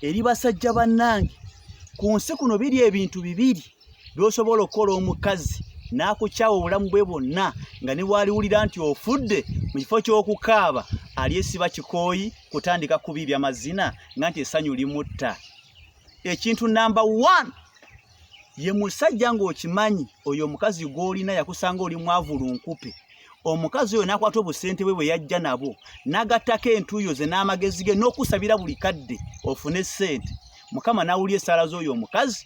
eri basajja bannange ku nsi kuno biri ebintu bibiri by'osobola okukola omukazi n'akukyawa obulamu bwe bwonna nga ne bwaliwulira nti ofudde mu kifo ky'okukaaba alyesiba kikooyi kutandika kubiibya mazina nga nti essanyu limutta ekintu namba one ye musajja ng'okimanyi oyo omukazi gw'olina yakusanga oli mwavu lunkupe omukazi oyo n'akwata obusente bwe bwe yajja nabwo n'agattako entuuyo ze n'amagezi ge n'okusabira buli kadde ofune ssente mukama n'awulya esaala z'oyo omukazi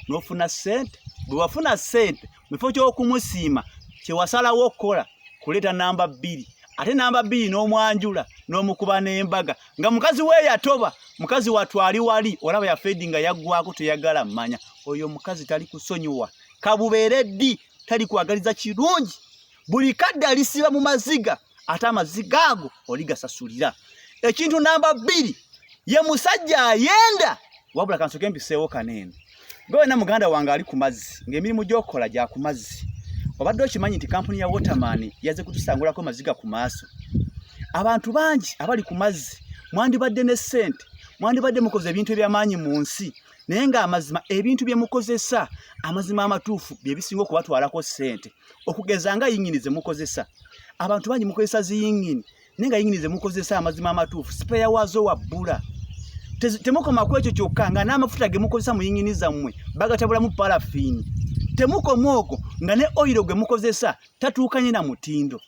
n'ofuna ssente bwe wafuna ssente mu kifo ky'okumusiima kye wasalawo okukola kuleeta namba bbiri ate namba bbiri n'omwanjula n'omukuba n'embaga nga mukazi we yatoba mukazi watwali wali olaba yafedi nga yaggwako teyagala mmanya oyo omukazi tali kusonyiwa kabubeere ddi tali kwagaliza kirungi buli kadde alisiba mu maziga ate amazzi gaago oligasasulira ekintu namba bbiri ye musajja ayenda wabula kansoke mpiseewo kaneeno gwe wena muganda wange ali ku mazzi ng'emirimu gy'okukola gya ku mazzi obadde okimanyi nti kampuni ya waterman yaze kutusangulako maziga ku maaso abantu bangi abali ku mazzi mwandibadde ne ssente mwandibadde mukoze ebintu ebyamaanyi mu nsi naye ng'amazima ebintu bye mukozesa amazima amatuufu bye bisinga okubatwalako ssente okugeza nga yingini ze mukozesa abantu bangi mukozesa ziyingini naye nga yingini ze mukozesa amazima amatuufu sipeya waazo wabbula temukoma ku ekyo kyokka nga n'amafuta ge mukozesa mu yingini zammwe bagatabulamu palafiini temukoma okwo nga ne oyiro gwe mukozesa tatuukanye na mutindo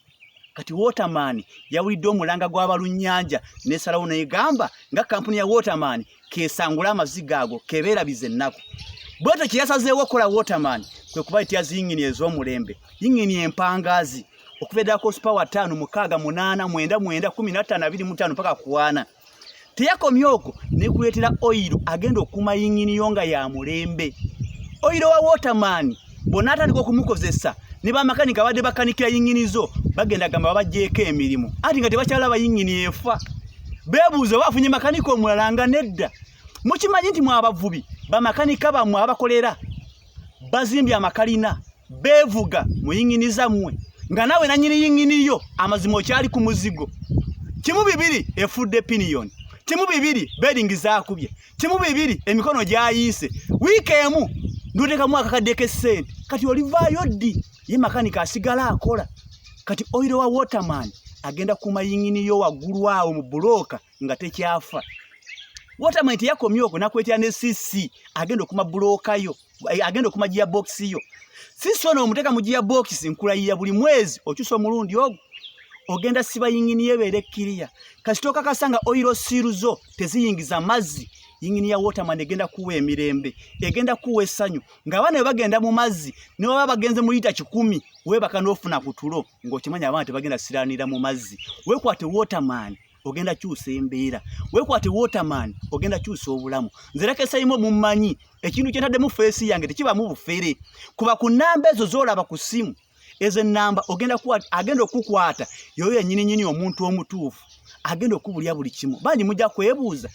kati waterman yawulidde omulanga gw'abalunnyanja nesalawo negamba nga kampuni ya waterman kesangula amaziga ago kebeerabiza ennaku bwetyo kyeyasazeewo okukola waterman kwe kuba ityazi yingini ez'omulembe yingini empangaazi okuva eddala ku sipawa ttaano mukaaga munaana mwenda mwenda kumi na ttaano abiri mu ttaano mpaka kuwaana teyakomye okwo nekuleetera oyiro agenda okukuuma yingini yo nga ya mulembe oyiro wa waterman bonna atandika okumukozesa ne bamakanika abadde bakanikira yingini zo bagenda gamba babajjeeko emirimu anti nga tebakyalaba yingini efa beebuuza oba afunye makanika omulala nga nedda mukimanyi nti mwabavubi bamakanika bamwe abakolera bazimbye amakalina beevuga mu yingini zammwe nga nawe nanyini yingini yo amazima okyali ku muzigo kimu bibiri efudde piniyoni kimu bibiri beringi zakubye kimu bibiri emikono gyayiise wiiki emu ndoteekamu akakadde k'essente kati olivaayo ddi ye makanika asigala akola kati oyiro wa waterman agenda kuuma yingini yo waggulu awo mu bulooka nga tekyafa waterman teyakomye okwo nakwetera ne cc agenda okuma buloka yo eh, agenda okuma gia box yo cc ono omuteka mu gia box nkulayira buli mwezi okyusa omulundi ogwo ogenda siba yingini yebeera ekkiriya kasita okakasa nga oiro siiru zo teziyingiza mazzi yingini ya waterman egenda kuwa emirembe egenda kuwa essanyu ng'abaana bwe bagenda mu mazzi ne baba bagenze mu liita kikumi weebaka n'ofuna ku tulo ng'okimanya abaana tebagenda siraanira mu mazzi weekwate waterman ogenda kyusa embeera wekwate waterman ogenda kyusa obulamu nzerekesayimu mumanyi ekintu kyentaddemu feesi yange tekibamu bufere kuba ku namba ezo zolaba ku simu ezo enamba ogenda agenda okukwata yoyo yenyininyini omuntu omutuufu agenda okubulya buli kimu bangi mujja kwebuuza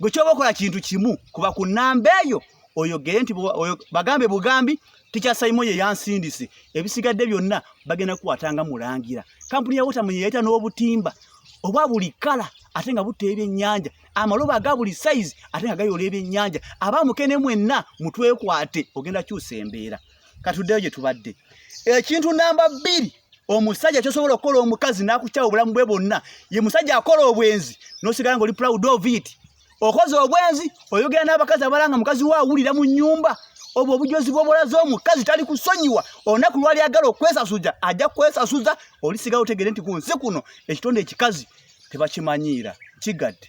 gwe kyoba okola kintu kimu kuba ku namba eyo oyogere nti bagambe bugambi tikya saimo ye yansindise ebisigadde byonna bagenda kukwata nga mulangira kampuni ya wotamu yeyayita n'obutimba obwa buli kala ate nga butta ebyennyanja amalobo aga buli sayizi ate nga gayola ebyennyanja abamukene mwenna mutwekwate ogenda kyusa embeera katuddeyo gye tubadde ekintu namba bbiri omusajja kyosobola okukola omukazi n'akukyawa obulamu bwe bonna ye musajja akola obwenzi n'osigala nga oli proud of it okoze obwenzi oyogera n'abakazi abalanga mukazi wo awulira mu nnyumba obwo obujozi bwobulaze omukazi tali kusonyiwa olunaku lwali agala okwesasuza ajja kwesasuza olisigawo otegere nti ku nsi kuno ekitonde ekikazi tebakimanyiira kigadde